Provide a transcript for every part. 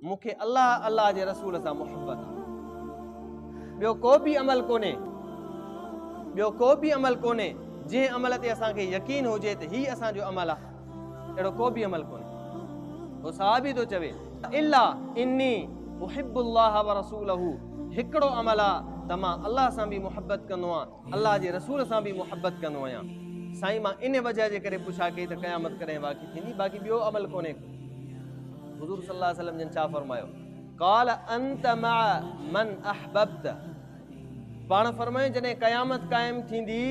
مون کي الله الله جي رسول سان محبت آهي ٻيو ڪو به عمل ڪونهي ٻيو ڪو به عمل ڪونهي جنهن عمل تي اسان کي يقين هجي ته هي اسان جو عمل آهي اهڙو ڪو به عمل ڪونهي هو صحابي ٿو چوي الا اني احب الله ورسوله هڪڙو عمل آهي ته مان الله سان به محبت ڪندو آهيان الله جي رسول سان به محبت ڪندو آهيان سائين مان ان وجه جي ڪري پڇا ڪئي ته قيامت ڪڏهن واقع ٿيندي باقي ٻيو عمل ڪونهي ڪو حضور صلي الله عليه وسلم جن ڇا فرمايو قال انت مع من احببت پاڻ فرمائي جڏهن قيامت قائم ٿيندي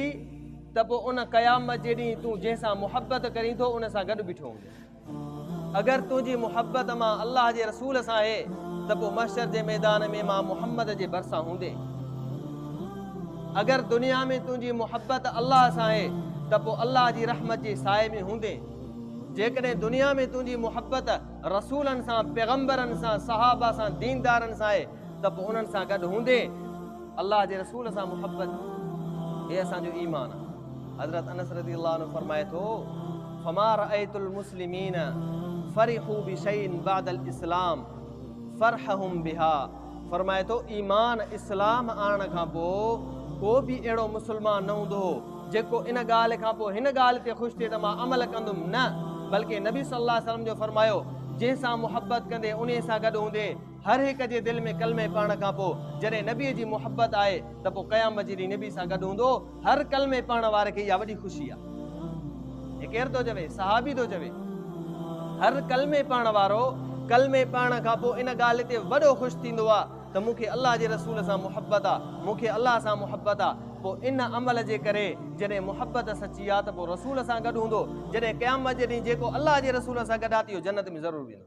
ته پوء ان قيامت جي ڏينهن تون جنهن سان محبت ڪرين ٿو ان سان گڏ بيٺو هوندي اگر تنهنجي محبت مان الله جي رسول سان آهي ته پوء محشر جي ميدان ۾ مان محمد جي ڀرسان هوندين. اگر دنيا ۾ تنهنجي محبت الله سان آهي ته پوء الله جي رحمت جي سائي ۾ هوندين. جيڪڏهن دنيا ۾ تنهنجي محبت رسولن سان، پيغمبرن سان، صحابه سان، ديندارن سان آهي ته پوء انهن سان گڏ هوندين. الله جي رسول سان محبت هي اسان جو ايمان آهي. حضرت انس رضي الله عنه فرمائي ٿو فما رأيت المسلمين فرحوا بشيء بعد الاسلام فرحهم بها فرمائي ٿو ايمان اسلام آڻڻ کان پوء ڪو به اهڙو مسلمان نه هوندو هو جيڪو ان ڳالهه کان پوء هن ڳالهه تي خوش ٿئي ته مان عمل ڪندم نه بلڪه نبي صلي الله عليه وسلم جو فرمايو جنهن سان محبت ڪندي انهي سان گڏ هوندي هر هڪ جي دل ۾ ڪلمي پڙهڻ کان پوء جڏهن نبي جي محبت آئي ته پوء قيامت جي ڏينهن نبي سان گڏ هوندو هر ڪلمي پڙهڻ واري کي اها وڏي خوشي آ. هي ڪير ٿو چوي؟ صحابي ٿو چوي. هر ڪلمي پڙهڻ وارو ڪلمي پڙهڻ کان پوء ان ڳالهه تي وڏو خوش ٿيندو آ ته مون کي الله جي رسول سان محبت آ، مون کي الله سان محبت آ. پوء ان عمل جي ڪري جڏهن محبت سچي آ ته پوء رسول سان گڏ هوندو. جڏهن قيامت جي ڏينهن جيڪو الله جي رسول سان گڏ آ ته اهو جنت ۾ ضرور ويندو.